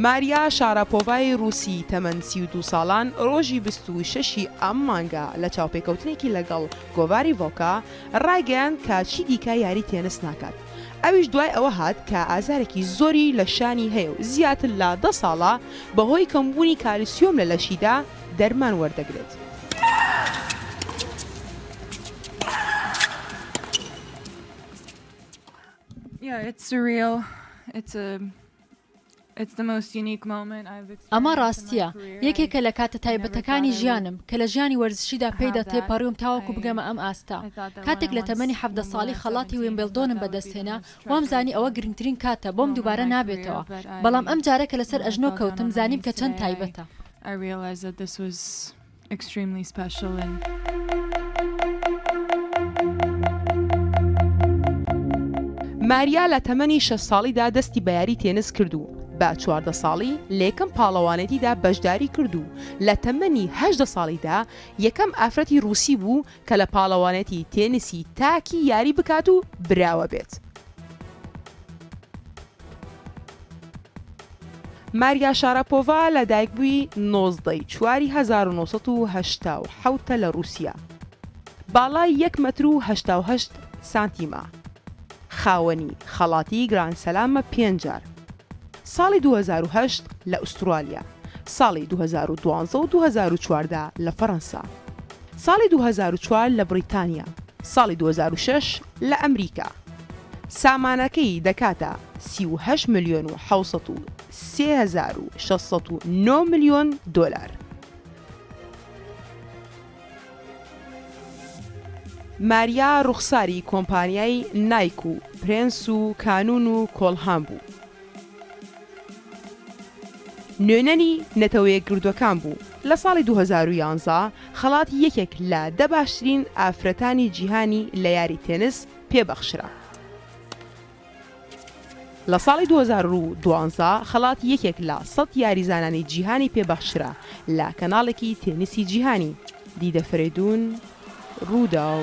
ماریا شاراپۆڤای رووسی تەمەن سی و دوو ساڵان ڕۆژی بیست و شەشی ئەم مانگە لە چاوپێکەوتنێکی لەگەڵ گۆڤاری ڤۆکە ڕایگەیاند کە چی دیکە یاری تێنس ناکات. ئەویش دوای ئەوە هات کە ئازارێکی زۆری لە شانی هەیە و زیاتر لە دە ساڵە بەهۆی کەمبوونی کالسیۆم لە لەشیدا دەرمان وەردەگرێت. ئەمە ڕاستییە، یەکێکە لە کاتە تایبەتەکانی ژیانم، کە لە ژیانی وەرزشیدا پێیدا تێپەڕیوم تاوەکو بگەمە ئەم ئاستە. کاتێک لە تەمەنی حەڤدە ساڵی خەڵاتی ویمبڵدۆنم بەدەستهێنا، وامزانی ئەوە گرنگترین کاتە بۆم دووبارە نابێتەوە، بەڵام ئەمجارە کە لەسەر ئەژنۆ کەوتم، زانیم کە چەند تایبەتە. Extremely special and ماریا لە تەمەنی شەش ساڵیدا دەستی بە یاری تێنس کرد و بە چواردە ساڵی لە یەکەم پاڵەوانێتیدا بەشداری کرد و لە تەمەنی هەشدە ساڵیدا یەکەم ئافرەتی رووسی بوو کە لە پاڵەوانێتی تێنسی تاکی یاری بکات و براوە بێت. ماریا شاراپۆڤا لە دایکبووی نۆزدە ی چواری هەزار و نۆ سەد و هەشتا و حەوت ە لە ڕووسیا، باڵای یەک مەتر و هەشتا و هەشت سانتیمە، خاوەنی خەڵاتی گراند سلامە پێنج جار، ساڵی دوو هەزار و هەشت لە ئوسترالیا، ساڵی دوو هەزار و دوازدە و دوو هەزار و چواردە لە فەرەنسا، ساڵی دوو هەزار و چوار لە بڕیتانیا، ساڵی دوو هەزار و شەش لە ئەمریکا. سامانەکەی دەکاتە سی و هەشت ملیۆن و حەوت سەد و سێ هەزار و شەش سەد و نۆ ملیۆن دۆلار. ماریا ڕوخساری کۆمپانیای نایک و پرێنس و کانون و کۆڵهام بوو. نوێنەری نەتەوەیەکگرتووەکان بوو. لە ساڵی دوو هەزار و یازدە خەڵاتی یەکێک لە دە باشترین ئافرەتانی جیهانی لە یاری تێنس پێ بەخشرا. لە ساڵی دوو هەزار و دوازدە خەڵاتی یەکێک لە سەد یاریزانانی جیهانی پێ بەخشرا لە کەناڵێکی تێنسی جیهانی، دیدە فەرەیدوون رووداو.